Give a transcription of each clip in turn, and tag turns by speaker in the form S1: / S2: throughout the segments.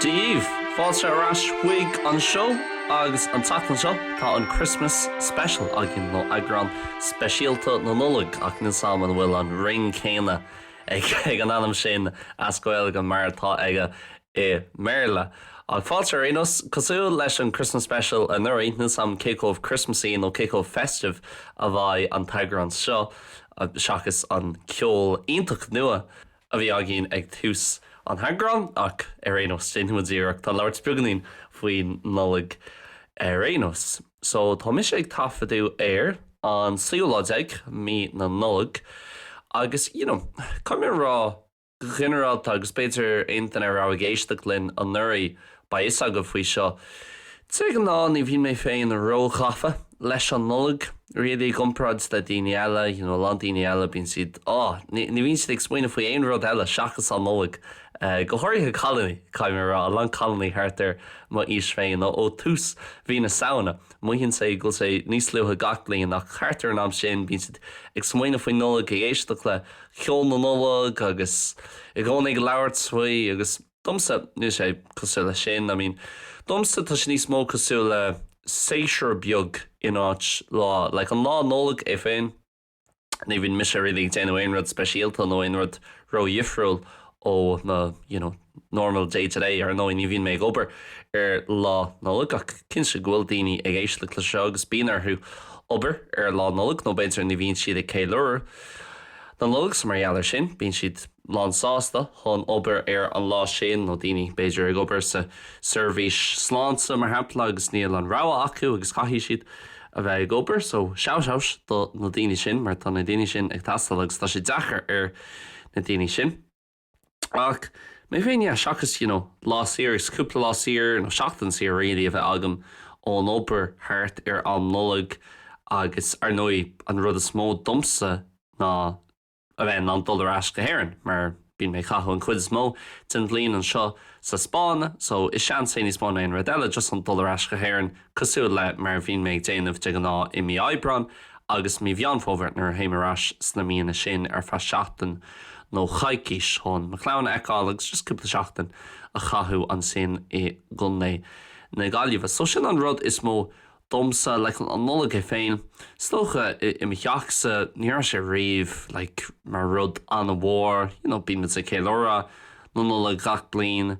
S1: Daoibh! Fáilte ar ais chuig an seó agus an tseachtain seo tá an Christmas Special againn, nó eagrán speisialta na Nollag, ach níl a fhios agam an bhfuil an ring céanna ag an ainm sin as Gaeilge mar atá aige i mBéarla. Ach ar aon nós, cosúil leis an Christmas Special anuraidh, níl a fhios agam cé chomh Christmasaí nó cé chomh festive a bheidh an t-eagrán seo seachas an ceol iontach nua a bhí againn ag tús an eagráin, ach ar aon nós, déanfaimid iarracht, tá labhairt beagáinín faoin Nollaig ar aon nós. So, tá mise ag taifeadadh ar an seachtú lá déag, mí na Nollag, agus, you know, caithfidh mé a rá, go ginearálta, agus b'fhéidir aon duine a raibh ag éisteacht linn anuraidh, beidh a fhios agaibh faoi seo. De ghnáth ní bhíonn mé féin ró-ghafa leis an Nollaig, really, i gcomparáid le daoine eile, you know, a lán daoine eile bíonn siad, oh, ní bhíonn siad ag smaoineamh faoi aon rud eile seachas an Nollaig, go háirithe cailíní, caithfidh mé a rá, a lán cailíní thart ar m'aois féin, ó thús mhí na Samhna. Mothaíonn sé go bhfuil sé níos luaithe gach bliain ach thart ar an am sin bíonn siad ag smaoineamh faoin Nollaig, ag éisteacht le ceol na Nollag agus i gcónaí ag labhairt faoi agus domsa níl sé cosúil leis sin. I mean domsa tá sé níos mó cosúil le séasúr beag in áit lá, like an lá Nollag é féin. ní bhíonn mise really ag déanamh aon rud speisialta nó aon rud ródhifriúil ó na you know, normal day to day, ar ndóigh ní bhíonn mé ag obair ar Lá Nollag ach cinnte go bhfuil daoine ag éisteacht leis seo agus bíonn orthu obair ar Lá Nollag nó b'fhéidir ní bhíonn siad ag ceiliúradh na Nollag so mar gheall ar sin bíonn siad lánsásta chun obair ar an lá sin nó daoine b'fhéidir ag obair sa seirbhís sláinte mar shampla agus níl an rogha acu agus caithfidh siad a bheith ag obair, so shout out do na daoine sin mar tá na daoine sin ag teastáil agus tá sé deacair ar na daoine sin. Ach mé féin, yeah, seachas, you know, lá saor agus cúpla lá saor, nó seachtain saor really a bheith agam ón obair thart ar am Nollag agus, ar ndóigh, an rud is mó domsa ná, a bheith in ann dul ar ais go hÉirinn mar bíonn mé ag caitheamh an chuid is mó den bhliain anseo sa Spáinn so is seans é níos mó ná aon rud eile just chun dul ar ais go hÉirinn cosúil le mar a bhíonn mé ag déanamh de ghnáth i mí Aibreáin agus mí Mheán Fómhair nuair a théim ar ais sna míonna sin ar feadh seachtain nó coicís chun mo chlann a fheiceáil agus just cúpla seachtain a chaitheamh ansin i gContae na Gaillimhe so sin an rud is mó domsa leis an Nollaig é féin, is dócha, i, i mo theachsa, ní raibh sé riamh, like, mar rud an-mhór, you know, bíonn muid ag ceiliúradh na Nollag gach bliain,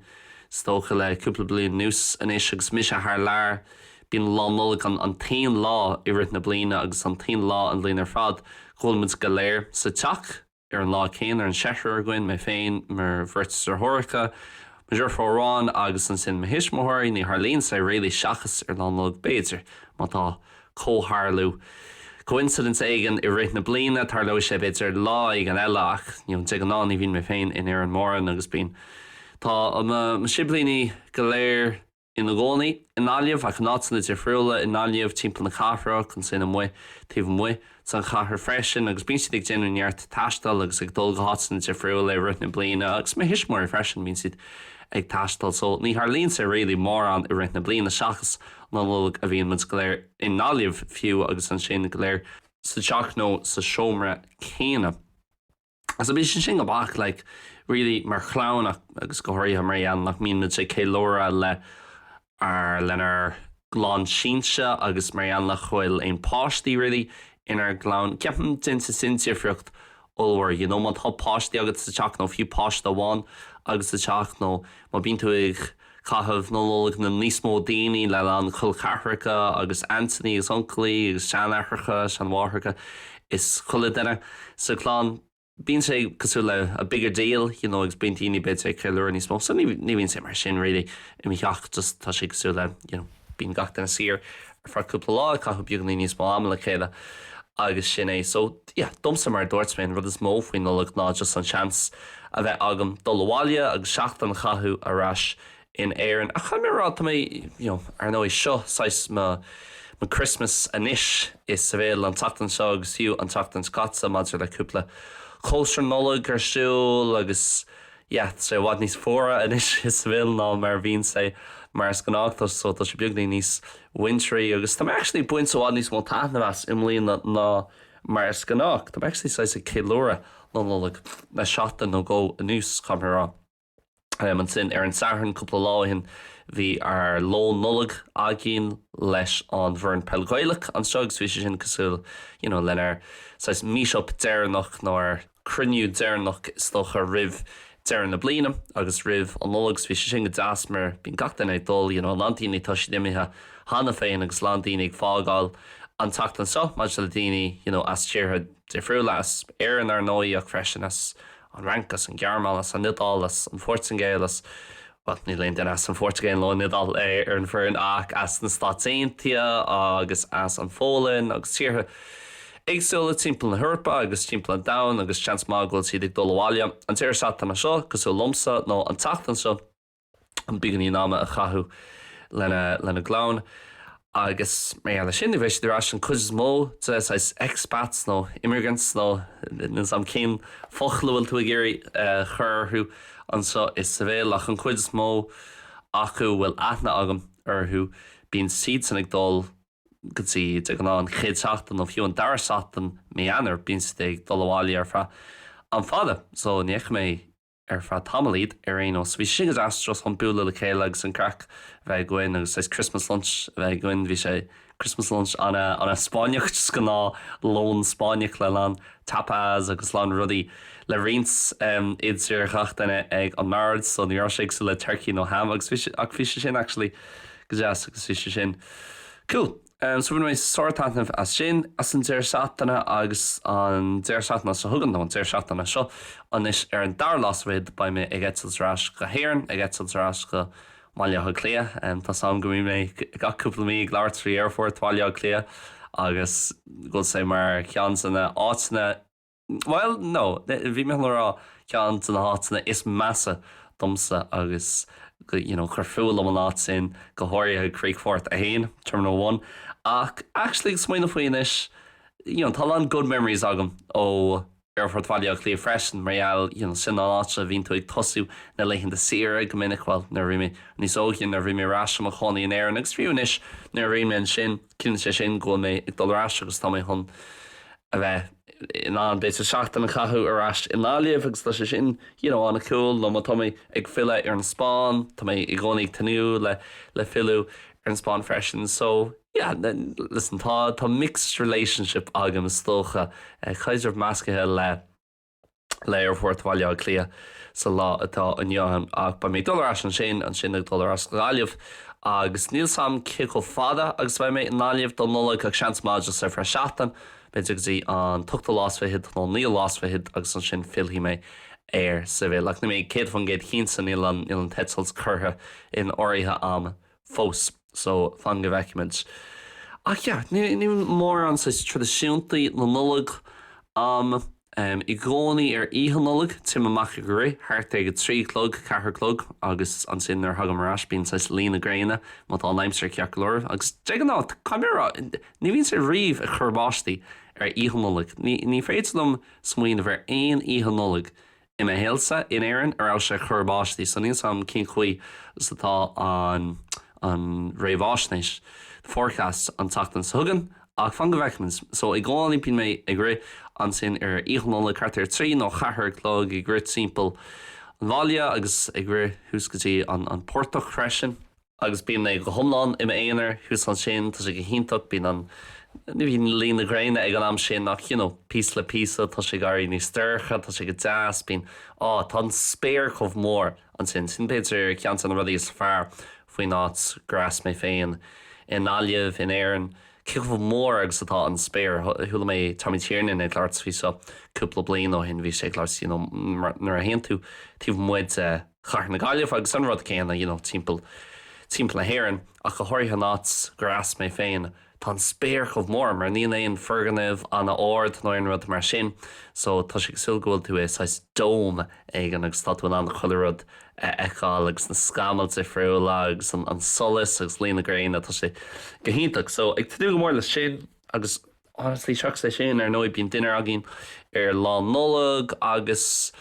S1: is dócha, le cúpla bliain anuas, anois agus mise thar lear, bíonn Lá Nollag an, an t-aon lá i rith na bliana agus an t-aon lá an bhliain ar fad go bhfuil muid go léir sa teach. Ar an lá céanna, ar an cheathrar againn, mé féin, mo bheirt deartháireacha, mo dheirfiúr amháin agus ansin mo thuismitheoirí, ní tharlaíonn sé really, seachas ar Lá Nollag b'fhéidir, má tá comhtharlú, coincidence éigin, i rith na bliana, tarlóidh sé b'fhéidir lá éigin eile ach you know de ghnáth ní bhíonn mé féin in Éirinn mórán agus bíonn, tá mo siblíní go léir. ina gcónaí i nGaillimh ach in áiteanna difriúla i nGaillimh, timpeall na cathrach, ansin amuigh, taobh amuigh, sa chathair freisin agus bíonn siad ag déanamh neart taistil agus ag dul go háiteanna difriúla i rith na bliana agus mo thuismitheoirí freisin, bíonn siad ag taisteal so ní tharlaíonn sé really mórán i rith na bliana seachas Lá Nollag a bhíonn muid go léir i nGaillimh fiú agus ansin go léir sa teach nó sa seomra céanna. So bíonn sé sin go beag, like, really, mar chlann agus go háirithe mar gheall nach mbíonn muid ag ceiliúradh le ár, lenár gclann sínte agus mar gheall nach bhfuil aon páistí, really, inár gclann. Ceapaim déanann sé sin difríocht ollmhór, you know, má tá páistí agat sa teach nó fiú páiste amháin agat sa teach nó má bíonn tú ag caitheamh na Nollag le níos mó daoine, le lán col ceathracha agus aintíní agus uncailí agus seanaithreacha, seanmháithreacha is chuile dhuine sa chlann. Bíonn sé cosúil le a bigger deal, you know agus bíonn daoine b'fhéidir ag ceiliúradh níos mó, so ní bhíonn sé mar sin really i mo theach just tá sé cosúil le, you know. Bíonn gach duine saor ar feadh cúpla lá, ag caitheamh beagáinín níos mó ama le chéile agus sin é. So, yeah, domsa, mar a dúirt mé, an rud is mó faoin Nollaig ná just an seans a bheith agam dul abhaile agus seachtain a chaitheamh ar ais in Éirinn. Ach caithfidh mé a rá, tá mé, you know, ar ndóigh, seo saghas mo Christmas anois, i Seville an tseachtain seo agus fiú an tseachtain seo caite maidir le cúpla cóisir Nollag ar siúl agus, yeah, tá sé i bhfad níos fuaire anois i Seville ná mar a bhíonn sé mar is gnách, so tá sé beagáinín níos wintry agus tá mé actually ag baint i bhfad níos mó taitneamh as i mbliana ná mar is gnách. Tá mé actually saghas ag ceiliúradh na Nollag le seachtain nó dhó anuas, caithfidh mé a rá. Em, ansin, ar an Satharn cúpla lá ó shin, bhí ár lón Nollag againn leis an bhfoireann peil Ghaelach anseo agus bhí sé sin cosúil, you know, lenár saghas meet-up deireanach nó ár, cruinniú deireanach is dócha roimh deireadh na bliana agus roimh an Nollaig so bhí sé sin go deas mar bíonn gach duine ag dul you know lán daoine tá siad imithe cheana féin agus lán daoine ag fágáil an tseachtain seo mar tá daoine you know as tíortha difriúla, as Éirinn ar ndóigh ach freisin as An Fhrainc, as An Ghearmáin, as An Iodáil, as An Phortaingéil, as. bhuel, níl aon duine as an Phortaingéil nó an Iodáil ar an bhfoireann ach as na Stáit Aontaithe agus as an Pholainn agus tíortha éagsúla timpeall na hEorpa agus timpeall an domhain agus seans maith go bhfuil siad ag dul abhaile an deireadh seachtaine seo cosúil liomsa nó an tseachtain seo chun beagáinín ama a chaitheamh lena gclann. Agus mar gheall air sin, ní bheidh siad ar ais an cuid is mó de saghas expats nó immigrants nó níl 's a'm cén focal a bhfuil tú ag iarraidh a chur orthu anseo i Seville ach an cuid is mó acu a bhfuil aithne agam orthu bíonn siadsan ag dul go dtí de ghnáth an chéad seachtain nó fiú an dara seachtain Mí Eanáir bíonn siad ag dul abhaile ar feadh am fada so ní fheicfidh mé Ar feadh tamaill iad ar aon nós. Bhí sé go deas just chun bualadh le chéile agus an craic a bheith againn agus saghas Christmas lunch a bheith againn. Bhí sé, Christmas lunch an-Spáinneach, just gnáth lón Spáinneach le lán tapas agus lán rudaí le roinnt idir ghach duine ag an mbord so ní raibh sé cosúil le turkey nó ham agus bhí sé, ach bhí sé sin actually go deas agus bhí sé sin cool. So bhain mé sár taitneamh as sin, as an deireadh seachtaine agus an deireadh seachtaine seo chugainn, nó an deireadh seachtaine seo, anois ar an dara lá 's fichead, beidh mé ag eitilt ar ais go hÉirinn, ag eitilt ar ais go mBaile Átha Cliath. Tá 's a'm go mbíonn mé gach cúpla mí ag labhairt faoi aerfort Bhaile Átha Cliath agus go bhfuil sé mar cheann de na áiteanna, Bhuel, no, bhí mé chun a rá, ceann de na háiteanna is measa domsa agus go, you know, gur fuath liom an áit sin, go háirithe Críochfort 1, Terminal One. Ach actually ag smaoineamh faoi anois, you know, tá a lán good memories agam ó Aerfort Bhaile Átha Cliath freisin mar gheall, you know, sin an áit a bhíonn tú ag tosú na laethanta saoire go minic, bhuel, nuair a bhí mé níos óige, nuair a bhí mé ar ais i mo chónaí in Éirinn agus fiú anois nuair a bhíonn mé ansin. Ciallaíonn sé sin go bhfuil mé ag dul ar ais agus tá mé chun a bheith in ann, b'fhéidir, seachtain a chaitheamh ar ais i nGaillimh agus tá sé sin, you know, an-cool. Nó má tá mé ag filleadh ar an Spáinn, tá mé i gcónaí ag tnúth le, le filleadh ar an Spáinn freisin. So, yeah, listen, tá, tá mixed relationship agam, is dócha, caidreamh meascaithe le. le hAerfort Bhaile Átha Cliath sa lá atá inniu ann. Ach beidh mé ag dul ar ais ansin, ansin ag dul ar ais go Gaillimh agus níl 's a'm cé chomh fada agus a bheidh mé i nGaillimh don Nollaig ach seans maith just ar feadh seachtain, b'fhéidir go dtí an t-ochtú lá 's fichead nó naoú lá 's fichead agus ansin fillfidh mé ar Seville. Ach níl mé céad faoin gcéad cinnte, níl an, níl an t-eitilt curtha in áirithe a'm fós. So, fan go bhfeicimid. Ach yeah, níl mórán saghas traidisiúntaí na Nollag a'm. Em, i gcónaí ar Oíche Nollag, téim amach ag rith, thart ag a trí a chlog, ceathair a chlog, agus ansin nuair a thagaim ar ais bíonn saghas luí na gréine, má tá an aimsir ceart go leor. Agus de ghnáth, caithfidh mé a rá, ní bhíonn sé riamh ag cur báistí ar Oíche Nollag. Ní, ní féidir liom smaoineamh ar aon Oíche Nollag I mo shaolsa in Éirinn, ní raibh sé ag cur báistí, so níl 's a'm cén chaoi 's atá an an réamháisnéis, the forecast, an tseachtain so chugainn, ach fan go bhfeicfimid. So i gcónaí bíonn mé ag rith, ansin ar Oíche Nollag thart ar a trí nó a ceathair a chlog, ag rith timpeall an bhaile agus ag rith thuas go dtí an an portach freisin. Agus bíonn mé go hiomlán i m'aonar thuas ansin, tá sé go hiontach, bíonn an, ní bhíonn luí na gréine ag an am sin ach you know píosa le píosa tá sé ag éirí níos dorcha, tá sé go deas, bíonn, á, tá an spéir chomh mór ansin, sin b'fhéidir ceann de na rudaí is fearr faoin áit gur as mé féin i nGaillimh, in Éirinn, cé chomh mór agus atá an spéir, chuala mé Tommy Tiernan ag labhairt faoi seo cúpla bliain ó shin, bhí sé ag labhairt you know nuair a théann tú taobh amuigh de. chathair na Gaillimhe agus an rud céanna you know timpeall, timpeall na hÉireann ach go háirithe an áit gurb as mé féin, tá an spéir chomh mór mar níl aon foirgnimh an-ard nó aon rud mar sin so tá sé cosúil go bhfuil tú i saghas dome éigin agus tá tú in ann chuile rud a fheiceáil agus na scamaill difriúla agus an, an solas agus luí na gréine, tá sé go hiontach so ag tnúth go mór leis sin agus honestly seachas é sin ar ndóigh bíonn dinnéar againn ar lá Nollag agus.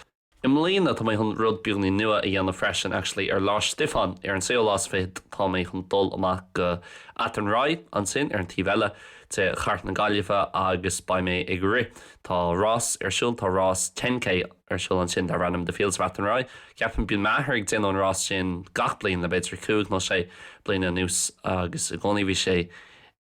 S1: I mbliana, tá mé chun rud beagáinín nua a dhéanamh freisin, actually. Ar Lá Stiofáin, ar an séú lá is fiche, tá mé chun dul amach go Athenry, ansin ar an taobh eile de chathair na Gaillimhe agus beidh mé ag rith. Tá rás ar siúl, tá rás ten K ar siúl ansin darb ainm The Fields of Athenry. Ceapaim, bíonn m'athair ag déanamh an rás sin gach bliain le b'fhéidir cúig nó sé bliana anuas agus i gcónaí bhí sé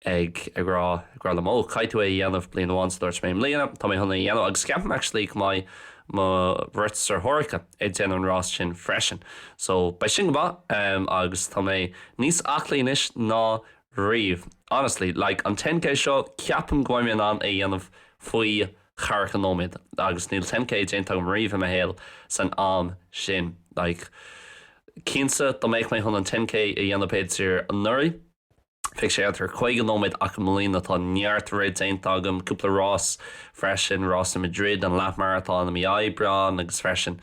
S1: ag rá, ag rá liom, 'Ó, caithfidh tú é a dhéanamh bliain amháin so dúirt mé, 'I mbliana, tá mé chun é a dhéanamh. Agus ceapaim actually go mbeidh mo bheirt deartháireacha ag déanamh an rás sin freisin. So, beidh sin go maith. Agus tá mé níos aclaí anois ná riamh. Honestly, like, an ten K seo, ceapaim go mbeidh mé in ann é a dhéanamh faoi cheathracha nóiméad. Agus níl ten K déanta agam riamh i mo shaol san am sin. Like, cinnte, dá mbeadh mé chun an ten K a dhéanamh b'fhéidir anuraidh, Bheadh sé ar caoga nóiméad ach i mbliana tá neart rith déanta agam, cúpla rás freisin, rás i Madrid, an leathmharatón i mí Aibreáin agus freisin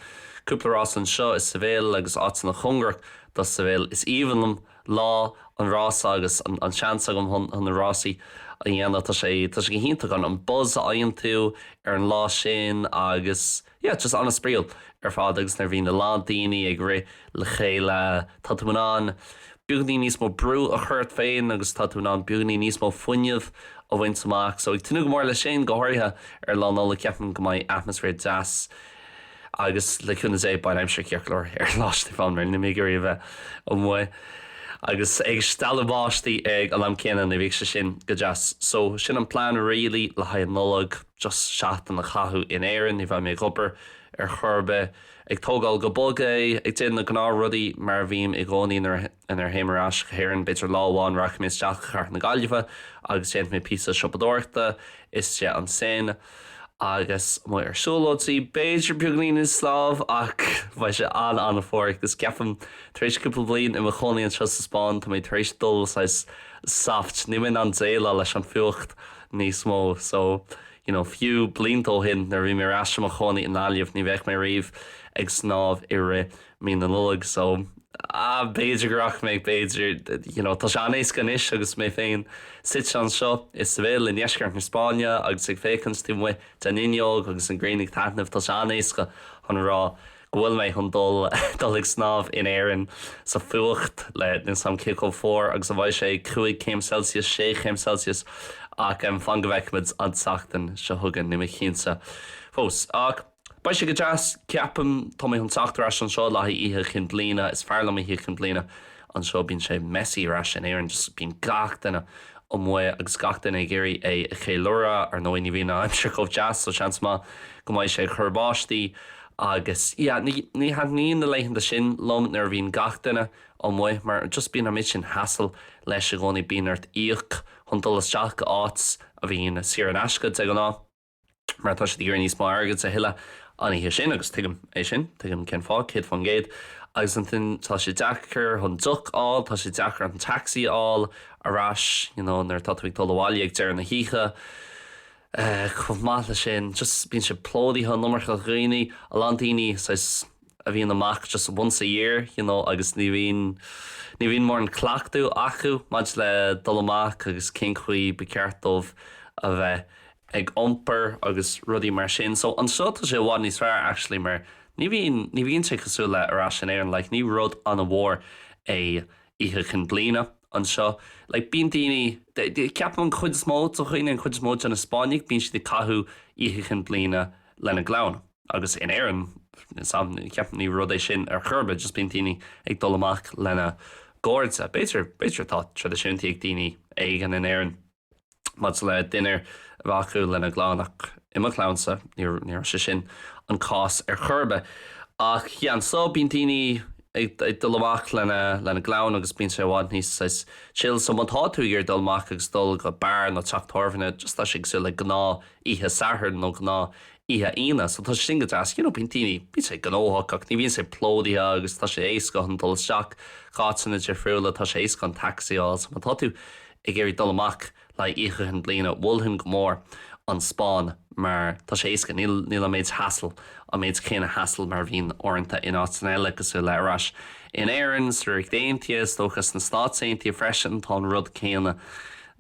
S1: cúpla rás anseo i Seville agus áiteanna cóngarach do Seville. Is aoibhinn liom lá an rása agus an seans agam chun na rásaí a dhéanamh, tá sé go hiontach an buzz a fhaigheann tú ar an lá sin agus. yeah just an-spraíúil ar fad agus nuair a bhíonn a lán daoine ag rith le chéile tá tú in ann beagainín níos mó brú a chur ort féin agus tá tú in ann beagainín níos mó fuinneamh a bhaint amach so ag tnúth go mór leis sin go háirithe ar Lá Nollag ceapaim go mbeidh atmaisféar deas agus le cúnamh Dé beidh aimsir ceart go leor ar Lá Stiofáin mar níl mé ag iarraidh a bheith amuigh agus é ag stealladh báistí ag an am céanna ní bheadh sé sin go deas so sin an plean really le haghaidh an Nollag. Just seachtain a chaitheamh in Éirinn, ní bheidh mé ag obair ar chor ar bith. Ag tógáil go bog é, ag déanamh na gnáth rudaí, mar a bhím i gcónaí nuair a théim ar ais go hÉirinn. B'fhéidir lá amháin rachaidh mé isteach go cathair na Gaillimhe agus déanfaidh mé píosa siopadóireachta istigh ansin. Agus amuigh ar siúlóidí, b'fhéidir beagainín ag snámh, ach beidh sé an-an-fhuar. Agus ceapaim tar éis cúpla bliain i mo chónaí anseo sa Spáinn, tá mé tar éis dul saghas soft, níl mé in ann déileáil leis an fuacht. níos mó. So, you know, fiú blianta ó shin nuair a bhí mé ar ais i mo chónaí i nGaillimh, ní bheadh mé riamh ag snámh i rith mí na Nollag. So, ah, b'fhéidir go rachaidh mé, b'fhéidir. You know, tá sé an-éasca dom anois agus mé féin suite anseo i Seville i ndeisceart na Spáinne agus ag féachaint taobh amuigh den fhuinneog agus an ghrian ag taitneamh, tá sé an-éasca chun a rá, go bhfuil mé chun dul ag snámh in Éirinn sa fuacht le níl a fhios agam cé chomh fuar agus a bheidh sé, cúig chéim Celsius, sé chéim Celsius, ach em fan go bhfeicfimid an tseachtain seo chugainn, níl mé cinnte fós. Ach beidh sé go deas, ceapaim. Tá mé chun teacht ar ais anseo le haghaidh Oíche Chinn Bliana, is fearr liom Oíche Chinn Bliana anseo, bíonn sé messy ar ais in Éirinn, just bíonn gach duine amuigh agus gach duine ag iarraidh é a cheiliúradh, ar ndóigh ní bhíonn an aimsir chomh deas so seans maith go mbeidh sé ag cur báistí. Agus yeah, ní, ní thaitníonn na laethanta sin liom nuair a bhíonn gach duine amuigh mar just bíonn an méid sin hassle leis i gcónaí, bíonn ort íoc chun dul isteach go áit a bhíonn saor in aisce de ghnáth mar tá siad ag iarraidh níos mó airgid a thuilleadh an oíche sin agus tuigim é sin, tuigim cén fáth, céad faoin gcéad. Agus ansin tá sé deacair chun deoch a fháil, tá sé deacair an taxi a fháil ar ais, you know, nuair atá tú ag dul abhaile ag deireadh na hoíche. Chomh maith le sin, just bíonn sé plódaithe, an iomarca daoine, a lán daoine, saghas, a bhíonn amach just once a year, you know, agus ní bhíonn, ní bhíonn mórán cleachtadh acu maidir le dul amach agus cén chaoi ba cheart dóibh a bheith ag iompar agus rudaí mar sin. So, anseo tá sé i bhfad níos fearr actually mar ní bhíonn, ní bhíonn sé cosúil le ar ais in Éirinn, like ní rud an-mhór é Oíche Chinn Bliana anseo. Like, bíonn daoine, ceapaim an chuid is mó de dhaoine, an chuid is mó de na Spáinnigh, bíonn siad ag caitheamh Oíche Chinn Bliana lena gclann. Agus in Éirinn, ceapaim ní rud é sin ar chor ar bith, just bíonn daoine ag dul amach lena gcairde. B'fhéidir, b'fhéidir atá traidisiúin ag daoine éigin in Éirinn. Maidir le dinnéar a bheith acu lena gclann, ach i mo chlannsa, ní raibh sé sin an cás ar chor ar bith. Ach yeah, so bíonn daoine ag dul amach lena gclann agus bíonn sé i bhfad níos, saghas, chill. So má tá tú ag iarraidh dul amach agus dul go beár nó teach tábhairne, just tá sé cosúil le gnáth oíche Sathairn nó gnáth oíche Aoine. So tá sé sin go deas. You know, bíonn daoine, bíonn sé gnóthach ach ní bhíonn sé plódaithe agus tá sé éasca chun dul isteach go háiteanna difriúla, tá sé éasca chun taxi a fháil. So má tá tú ag iarraidh dul amach le Oíche Chinn Bliana, mholfainn go mór an Spáinn mar tá sé éasca, níl an méid hassle, an méid céanna hassle mar a bhíonn uaireanta in áiteanna eile cosúil le ar ais in Éirinn, sa Ríocht Aontaithe, is dócha sna Stáit Aontaithe freisin tá an rud céanna.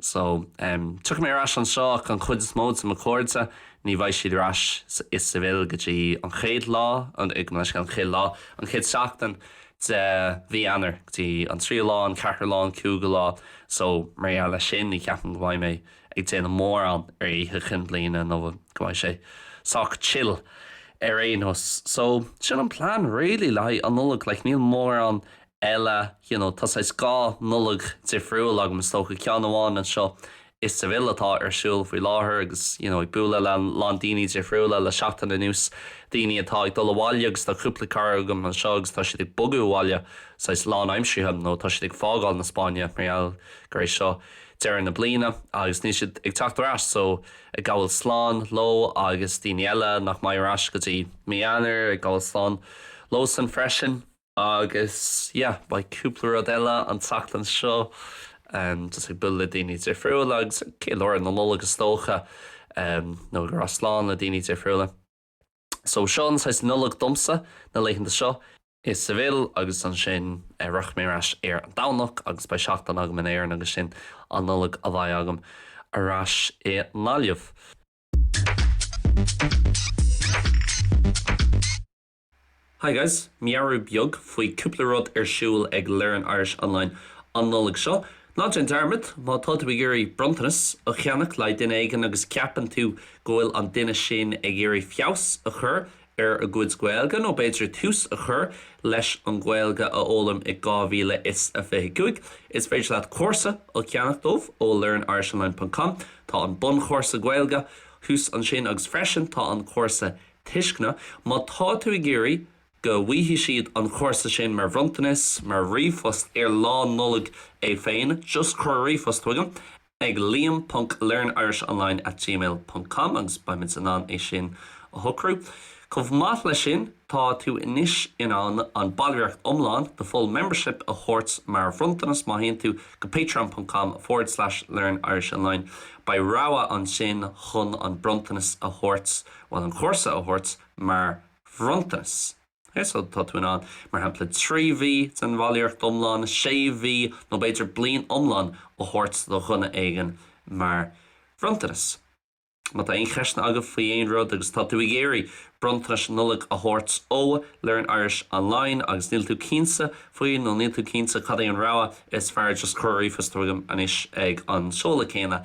S1: So, em, tiocfaidh mé ar ais anseo ach an chuid is mó de mo cairde, ní bheidh siad ar ais i Seville go dtí an chéad lá, an, an chéad lá, an chéad seachtain. de mhí Eanáir go dtí an tríú lá, an ceathrú lá, an cúigiú lá, so mar gheall leis sin ní cheapaim go mbeidh mé ag déanamh mórán ar Oíche Chinn Bliana nó go mbeidh sé sách chill ar aon nós. So sin an plean really le haghaidh an Nollaig, like níl mórán eile, you know tá saghas dhá Nollaig difriúil agam is dócha, ceann amháin anseo i Seville atá ar siúl faoi láthair agus you know ag bualadh le a lán daoine difriúla le seachtain anuas, daoine atá ag dul abhaile agus tá cúpla cara agam anseo agus tá siad ag bogadh abhaile saghas lán-aimseartha nó tá siad ag fágáil na Spáinne mar gheall gur é seo deireadh na bliana agus níl siad ag teacht ar ais so ag gabháil slán leo agus daoine eile nach mbeidh ar ais go dtí mí Eanáir ag gabháil slán leosan freisin. Agus yeah, beidh cúpla rud eile an tseachtain seo, just ag bualadh le daoine difriúla agus ag ceiliúradh na Nollag is dócha, nó ag rá slán le daoine difriúla. So seo an saghas Nollag domsa, na laethanta seo, i Seville agus ansin rachaidh mé ar ais ar an Domhnach agus beidh seachtain agam in Éirinn agus sin an Nollaig a bheidh agam ar ais i nGaillimh. Hi guys, meabhrú beag faoi chúpla rud ar siúl ag Learn Irish Online an Nollaig seo, ná déan dearmad, má tá tú ag iarraidh bronntanas a cheannach le haghaidh duine éigin agus ceapann tú go bhfuil an duine sin ag iarraidh feabhas a chur ar a gcuid Gaeilge, nó b'fhéidir tús a chur leis an Ghaeilge a fhoghlaim i 2025, is féidir leat cúrsa a cheannach dóibh ó learnirishonline.com. Tá an bunchúrsa Gaeilge thuas ansin agus freisin tá an cúrsa tuisceana, má tá tú ag iarraidh go bhfaighidh siad an chúrsa sin mar bhronntanas, mar ríomhphost ar Lá Nollag é féin, just cuir ríomhphost chuigam ag liam.learnirishonline at gmail ponc com agus beidh muid in ann é sin a shocrú. Chomh maith leis sin, tá tú anois in ann an ballraíocht iomlán, the full membership, a thabhairt mar bhronntanas má théann tú go patreon.com forward slash learnirishonline. Beidh rogha ansin chun an bronntanas a thabhairt. bhuel, an cúrsa a thabhairt mar bhronntanas. Ok, so tá tú in ann, mar shampla, trí mhí den bhallraíocht iomlán, sé mhí nó b'fhéidir bliain iomlán a thabhairt do dhuine éigin mar bhronntanas. Má tá aon cheisteanna agaibh faoi aon rud agus tá tú ag iarraidh bronntanais Nollag a thabhairt ó Learn Irish Online agus níl tú cinnte faoi nó níl tú cinnte cad é an rogha is fearr just cuir ríomhphost chugaim anois ag an seoladh céanna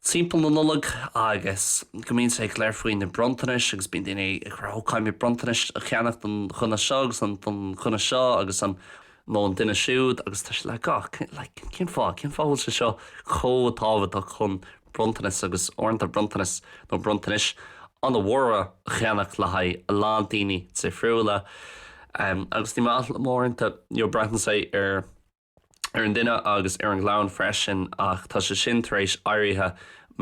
S1: timpeall na Nollag agus go mbíonn sé go léir faoi na bronntanais agus bíonn daoine ag rá ‘Ó, caithfimid bronntanais a cheannach don dhuine seo agus don dhuine seo agus an. nó an duine siúd’ agus tá sé like cén fáth, cén fáth a bhfuil sé seo chomh tábhachtach chun bronntanas agus uaireanta bronntanais nó bronntanais an-mhóra a cheannach le haghaidh a lán daoine difriúla agus ní maith liom uaireanta, you know, braitheann sé ar. ar an duine agus ar an gclann freisin ach tá sé sin tar éis éirithe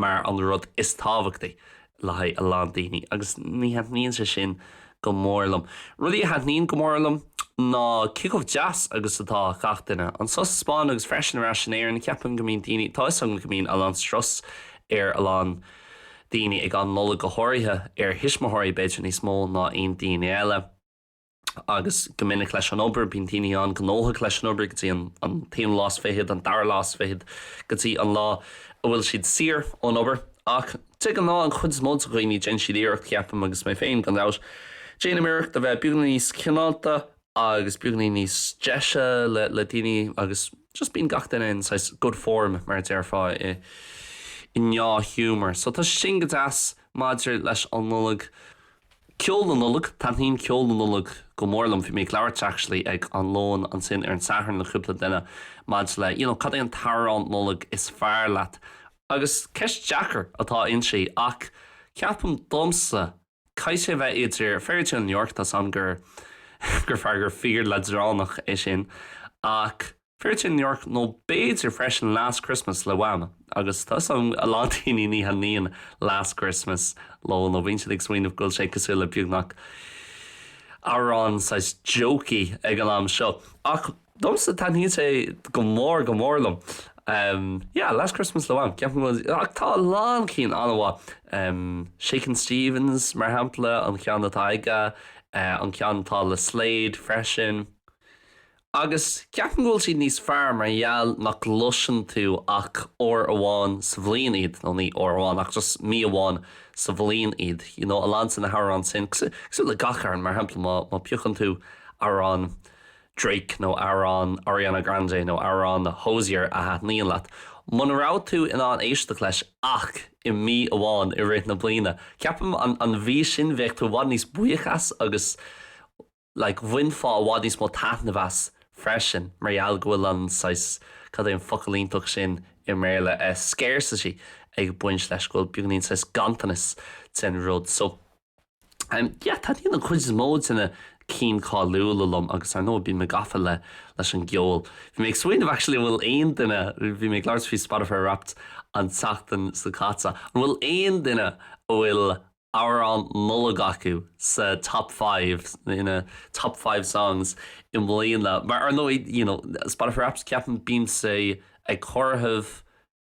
S1: mar an rud is tábhachtaí le haghaidh a lán daoine agus ní thaitníonn sé sin go mór liom. Rudaí a thaitníonn go mór liom ná cé chomh deas agus atá gach duine anseo sa Spáinn agus freisin ar ais in Éirinn. Ceapaim go mbíonn daoine, tá 'fhios agam go mbíonn a lán strus ar a lán daoine ag an Nollaig go háirithe, ar thuismitheoirí b'fhéidir níos mó ná aon daoine eile, agus go minic leis an obair. Bíonn daoine an-ghnóthach leis an obair go dtí an t-aonú lá is fichead, an dara lá is fichead, go dtí an lá a bhfuil siad saor ón obair. Ach de ghnáth, an chuid is mó de dhaoine, déanann siad iarracht, ceapaim, agus mé féin, gan dabht, déanaim iarracht, a bheith beagáinín níos cineálta agus beagáinín níos deise le daoine agus just bíonn gach duine in saghas good form, mar a déarfá, i ndea-ghiúmar. So, tá sé sin go deas maidir leis an Nollaig. Ceol na Nollag, Thaitníonn ceol na Nollag go mór liom. Bhí mé ag labhairt, actually, ag an lón ansin ar an Satharn le cúpla duine maidir le, you know, cad é an t-amhrán Nollag is fearr leat? Agus ceist deacair atá inti, ach ceapaim, domsa, caithfidh sé bheith idir Fairytale of New York, tá 's a'm gur, gur fíor, gur fíor-leadránach é sin, ach. Fairytale of New York nó b'fhéidir freisin Last Christmas le Wham! Agus tá 'fhios agam a lán daoine ní thaitníonn Last Christmas leo nó bíonn siad ag smaoineamh go bhfuil sé cosúil le beagnach amhrán saghas jokey ag an am seo ach domsa taitníonn sé go mór go mór liom. Em, yeah, Last Christmas le Wham! Ceapaim go bhfuil, ach tá a lán cinn an-mhaith. Em, Shakin' Stevens, mar shampla, an ceann atá aige, eh, an ceann atá le Slade freisin. Agus ceapaim go bhfuil siad níos fearr mar gheall nach gcloiseann tú ach uair amháin sa bhliain iad, nó ní uair amháin ach just mí amháin sa bhliain iad, you know, a lán de na hamhráin sin, cosúil le gach amhrán, mar shampla má piocann tú amhrán Drake nó amhrán Ariana Grande nó amhrán Hozier a thaitníonn leat, muna raibh tú in ann éisteacht leis ach i mí amháin i rith na bliana, ceapaim an mhí sin bheadh tú i bhfad níos buíoch as agus. like bhainfeá i bhfad níos mó taitneamh as freisin mar gheall go bhfuil an saghas, cad é an focal iontach sin i mBéarla, eh scarcity ag baint leis, go bhfuil beagainín saghas ganntanas den rud. So, em, yeah, taitníonn an chuid is mó de na cinn cáiliúla liom agus ar ndóigh bíonn mé gafa le, leis an gceol. Bhí mé ag smaoineamh actually an bhfuil aon duine, bhí mé ag labhairt faoi Spotify Wrapped an tseachtain seo caite, an bhfuil aon duine a bhfuil amhrán Nollag acu sa Top Five, ina Top Five Songs i mbliana. Mar ar ndóigh, you know, Spotify Wrapped, ceapaim, bíonn sé ag comhaireamh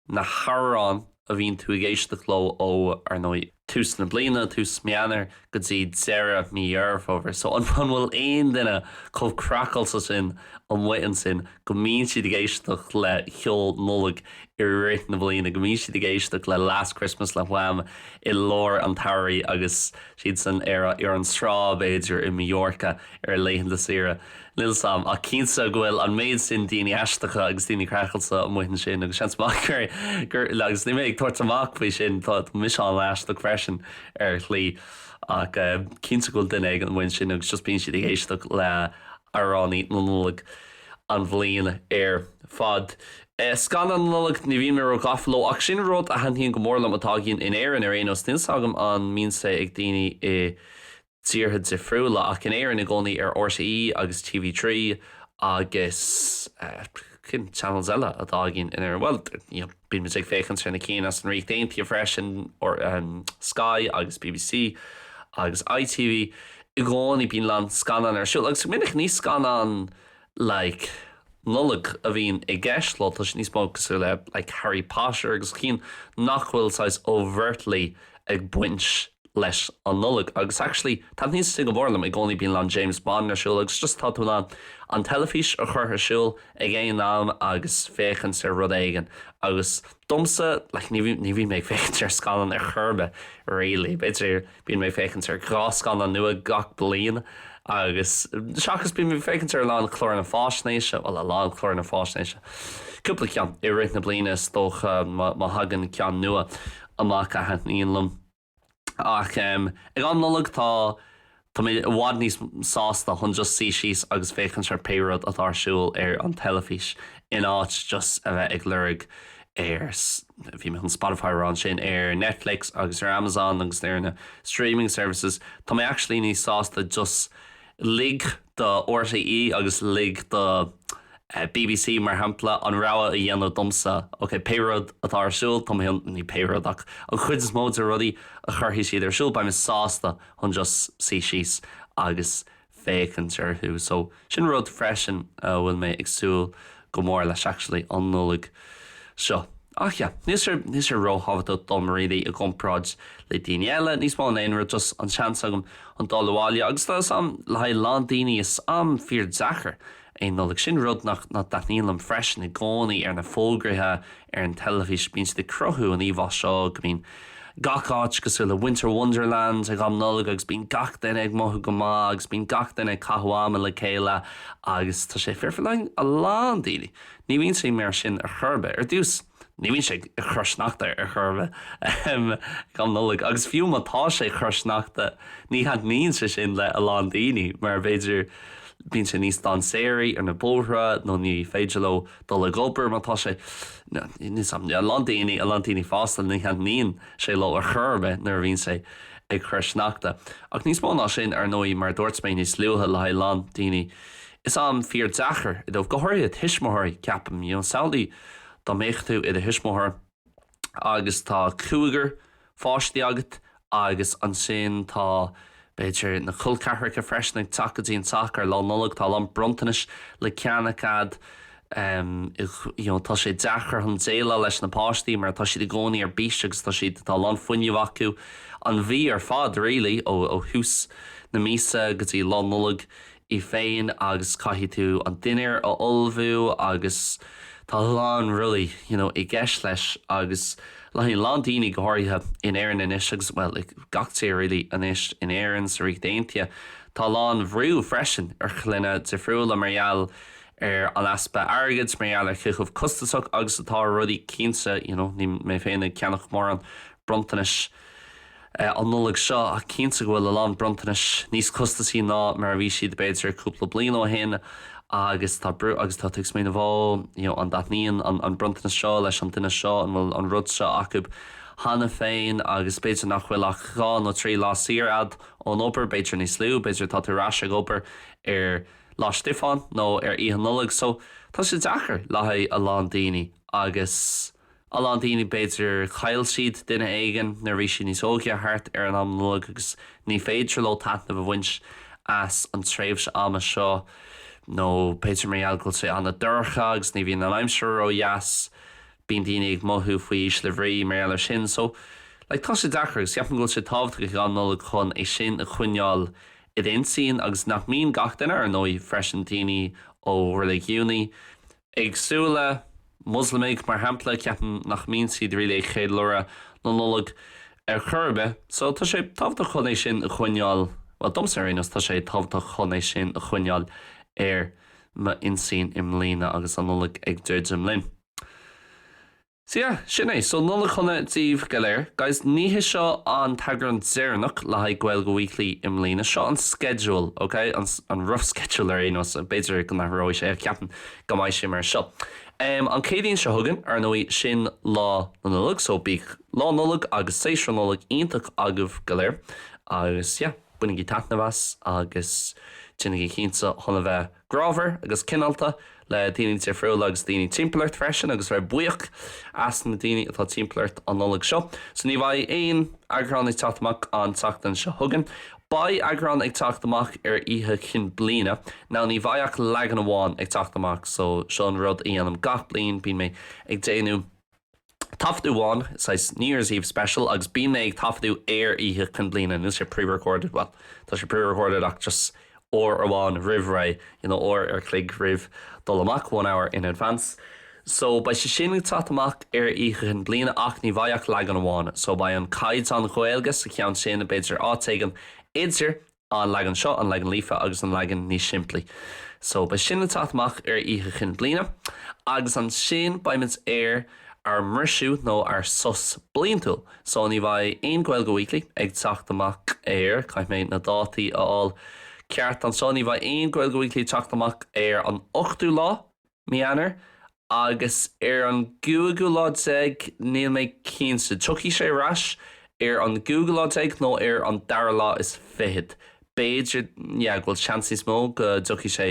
S1: na hamhráin a bhíonn tú ag éisteacht leo ó, ar ndóigh, tús na bliana, tús Mí Eanáir, go dtí deireadh Mí Dheireadh Fómhair. So, an bhfuil aon duine chomh craiceáilte sin amuigh ansin? go mbíonn siad ag éisteacht le ceol Nollag i rith na bliana, go mbíonn siad ag éisteacht le Last Christmas le Wham i lár an tsamhraidh agus siadsan ar an trá, b'fhéidir, i Mallorca ar a laethanta saoire. Níl 's 'am, ach cinnte go bhfuil an méid sin daoine aisteacha agus daoine craiceáilte amuigh ansin agus seans maith gur, agus níl mé ag tabhairt amach faoi sin, tá mise an-aisteach freisin ar shlí, ach cinnte go bhfuil duine éigin amuigh ansin agus just bíonn siad ag éisteacht le. Amhránaí na Nollag an bhliain ar fad. Scannáin na Nollag, ní bhím ró-ghafa leo, ach sin rud a thaitníonn go mór liom, atá againn in Éirinn ar aon nós. Níl 's agam an mbíonn sé ag daoine i dtíortha difriúla, ach in Éirinn i gcónaí ar RTÉ agus TV3 agus. cén channels eile atá againn in Éirinn? Bhuel, bíonn muid ag féachaint ar na cinn as an Ríocht Aontaithe freisin, Sky agus BBC agus ITV. I gcónaí bíonn a lán scannán ar siúl, agus go minic ní scannáin like Nollag a bhíonn i gceist leo, tá siad níos mó cosúil le like Harry Potter agus cinn nach bhfuil saghas overtly ag baint leis an Nollaig agus actually taitníonn siad go mór liom i gcónaí bíonn a lán James Bond ar siúl agus just tá tú in ann an teilifís a chur ar siúl ag aon am agus féachaint ar rud éigin agus domsa like ní ní bhíonn mé ag féachaint ar scannán ar chor ar bith really b'fhéidir bíonn mé ag féachaint ar dhá scannán nua gach bliain agus seachas bíonn mé ag féachaint ar a lán cláracha faisnéise bhuel a lán cláracha faisnéise cúpla ceann i rith na bliana is dócha má má thagann ceann nua amach a thaitníonn liom Ach ag am Nollag tá tá mé i bhfad níos sásta chun just suí síos agus féachaint ar pé rud atá ar siúl ar an teilifís in áit just a bheith ag lorg ar bhí mé chun Spotify rá ansin ar Netflix agus ar Amazon agus ar na streaming services tá mé actually níos sásta just Lig do RTÉ agus lig do BBC, mar shampla, an rogha a dhéanamh domsa, ok, pé rud atá ar siúl, tá mé, ní pé rud ach an chuid is mó de rudaí a chuirfidh siad ar siúl, beidh mé sásta chun just suí síos agus féachaint orthu. So, sin rud freisin a bhfuil mé ag súil go mór leis actually an Nollaig seo ach yeah níl sé ró thábhachtach dom really i gcomparáid le daoine eile níos mó ná aon rud just an seans agam chun dul abhaile agus tá is am le haghaidh lán daoine is am fíor deacair é Nollaig sin rud nach nach dtaitníonn liom freisin i gcónaí ar na fógraithe ar an teilifís bíonn siad ag cruthú an íomhá seo go mbíonn gach áit cosúil le Winter Wonderland ag am Nollag agus bíonn gach duine ag mothú go maith agus bíonn gach duine ag caitheamh ama le chéile agus tá sé fíor. Le haghaidh a lán daoine. Ní bhíonn sé mar sin ar chor ar bith, ar dtús ní bhíonn sé ag cur sneachta ar chor ar bith, ahem, ag am Nollag agus fiú má tá sé ag cur sneachta ní thaitníonn sé sin le a lán daoine mar b'fhéidir bíonn sé níos dainséaraí ar na bóithre nó ní féidir leo dul ag obair má tá sé níos a lán daoine a lán daoine fásta ní thaitníonn sé leo ar chor ar bith nuair a bhíonn sé ag cur sneachta ach níos mó ná sin ar ndóigh mar a dúirt mé níos luaithe le haghaidh a lán daoine is am fíor deacair é dóibh go háirithe tuismitheoirí ceapaim you know samhlaigh dá mbeadh tú i do thuismitheoir agus tá cúigear pháistí agat agus ansin tá, b'fhéidir, na col ceathracha freisin ag teacht go dtí an teach ar Lá Nollag, tá a lán bronntanais le ceannach agat, you know, tá sé deacair chun déileáil leis na páistí mar tá siad i gcónaí ar bís agus tá siad, tá a lán fuinnimh acu an mhí ar fad really ó thús na míosa go dtí Lá Nollag í féin agus caithfidh tú an dinnéar a ullmhú agus tá a lán rudaí you know i gceist leis agus le haghaidh a lán daoine go háirithe in Éirinn anois agus bhuel i ngach tír really anois in Éirinn sa Ríocht Aontaithe tá a lán bhrú freisin ar chlainne difriúla mar gheall ar an easpa airgid mar gheall ar cé chomh costasach agus atá rudaí cinnte you know níl mé féin ag ceannach mórán bronntanais an Nollaig seo, ach cinnte go bhfuil a lán bronntanais níos costasaí ná mar a bhí siad b'fhéidir cúpla bliain ó shin agus tá brú, agus tá tú ag smaoineamh Ó, you know an dtaitníonn an an bronntanas seo leis an duine seo, an bhfuil an rud seo acu cheana féin agus b'fhéidir nach bhfuil ach dhá nó trí lá saor a'd ón obair, b'fhéidir níos lú, b'fhéidir tá tú ar ais ag obair ar Lá Stiofáin nó ar Oíche Nollag so tá sé deacair le haghaidh a lán daoine agus. A lán daoine, b'fhéidir, chaill siad duine éigin nuair a bhí siad níos óige, thart ar am Nollag, agus ní féidir leo taitneamh a bhaint as an tréimhse ama seo, nó b'fhéidir mar gheall go bhfuil sé an-dorcha agus ní bhíonn an aimsir ró-dheas, bíonn daoine ag mothú faoi ísle bhrí mar gheall ar sin. So, like, tá sé deacair, agus ceapaim go bhfuil sé tábhachtach ag am Nollag chun é sin a choinneáil id intinn, agus nach mbíonn gach duine, ar ndóigh, freisin, daoine ó reiligiúin, éagsúla. Muslamaigh, mar shampla, ceapaim nach mbíonn siad really ag ceiliúradh na Nollag ar chor ar bith. So, tá sé tábhachtach chun é sin a choinneáil, bhuel, domsa ar aon nós, tá sé tábhachtach chun é sin a choinneáil ar m'intinn i mbliana agus an Nollaig ag druidim linn. Sea, sin é. So, Nollaig Shona daoibh go léir. Guys, ní hé seo an t-eagrán deireanach le haghaidh Gaeilge Weekly i mbliana. Seo an sceideal, ok? An, an rough schedule ar aon nós. B'fhéidir go n-athróidh sé, ach ceapaim go mbeidh sé mar seo. Um, an Céadaoin seo chugainn, ar ndóigh, sin Lá na Nollag, so bíodh Lá Nollag agus Séasúr Nollag iontach agaibh go léir. Agus, yeah, bainigí taitneamh as agus déanaigí cinnte chun a bheith. grámhar agus cineálta le daoine difriúla agus daoine timpeall ort freisin agus bheith buíoch as na daoine atá timpeall ort an Nollaig seo. So ní bheidh aon eagrán ag teacht amach an tseachtain seo chugainn. Beidh eagrán ag teacht amach ar Oíche Chinn Bliana. Now ní bheidh ach leagan amháin ag teacht amach so seo an rud a dhéanaim gach bliain, bíonn mé ag déanamh, taifeadadh amháin, saghas New Year's Eve special, agus bíonn mé ag taifeadadh ar Oíche Chinn Bliana, níl sé pre-recorded, bhuel, tá sé pre-recorded ach just uair amháin roimh ré, you know, uair an chloig roimh dul amach, one hour in advance. So, beidh sé sin ag teacht amach ar Oíche Chinn Bliana ach ní bheidh ach leagan amháin, so beidh an caighdeán Ghaeilge sa cheann sin, b'fhéidir áit éigin idir, An leagan seo, an leagan líofa agus an leagan níos simplí. So, beidh sin ag teacht amach ar Oíche Chinn Bliana, agus ansin beimid ar ár mbriseadh nó ár sos bliantúil. So, ní bheidh aon Gaeilge Weekly ag teacht amach ar, caithfidh mé na dátaí a fháil ceart anseo, ní bheidh aon Gaeilge Weekly ag teacht amach ar an 8ú lá, Mí Eanáir, agus ar an gcúigiú lá déag, níl mé cinnte, tiocfaidh sé ar ais ar an gcúigiú lá déag nó ar an dara lá is fichead, b'fhéidir, yeah, bhuel, seans níos mó go dtiocfaidh sé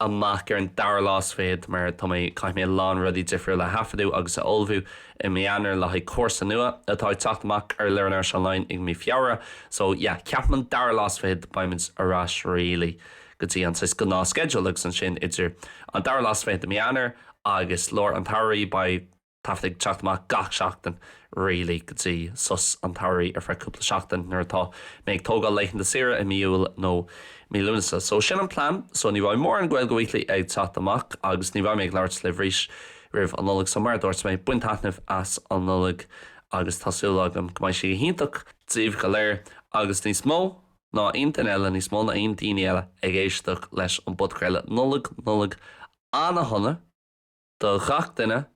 S1: amach ar an dara lá is fichead mar tá mé, caithfidh mé a lán rudaí difriúla a thaifeadadh agus a ullmhú i mí Eanáir le haghaidh cúrsa nua atá ag teacht amach ar Learn Irish Online i mí Feabhra, so, yeah, ceapaim an dara lá is fichead beimid ar ais really. go dtí an saghas gnáthsceideal agus ansin idir an dara lá is fiche de mí Eanáir agus lár an tsamhraidh beidh taifead ag teacht amach gach seachtain really go dtí sos an tsamhraidh ar feadh cúpla seachtain nuair atá mé ag tógáil laethanta saoire i mí Iúil nó mí Lúnasa so sin an plean so ní bheidh mórán Gaeilge Weekly ag teacht amach agus ní bheidh mé ag labhairt libh arís roimh an Nollaig so mar a dúirt mé bain taitneamh as an Nollaig agus tá súil agam go mbeidh sí go hiontach daoibh go léir agus níos mó. ná aon duine eile, níos mó ná aon daoine eile, ag éisteacht leis an bpodchraoladh Nollaig, Nollaig an-shona do ghach duine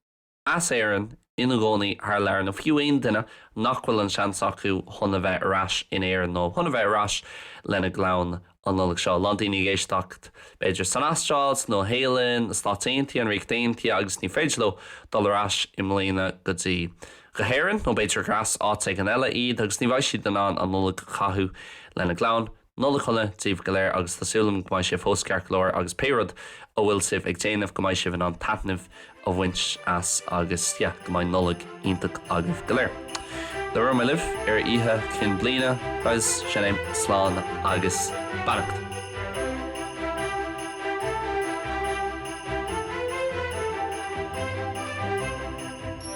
S1: as Éirinn ina gcónaí thar lear, nó fiú aon duine nach bhfuil an seans acu chun a bheith ar ais in Éirinn nó chun a bheith ar ais lena gclann an Nollaig seo. A lán daoine ag éisteacht b'fhéidir san Astráil, sa Nua Shéalainn, na Stáit Aontaithe, an Ríocht Aontaithe agus ní féidir leo dul ar ais i mbliana go dtí go hÉirinn, nó b'fhéidir gur as áit éigin eile iad, agus ní bheidh siad in ann an Nollaig a chaitheamh lena gclann. Nollaig shona daoibh go léir, agus tá súil agam go mbeidh sé fós ceart go leor, agus pé rud a bhfuil sibh ag déanamh, go mbeidh sibh in ann taitneamh a bhaint as, agus yeah, go mbeidh Nollaig iontach agaibh go léir. Labhróidh mé libh ar Oíche Chinn Bliana, guys, sin é, slán agus beannacht.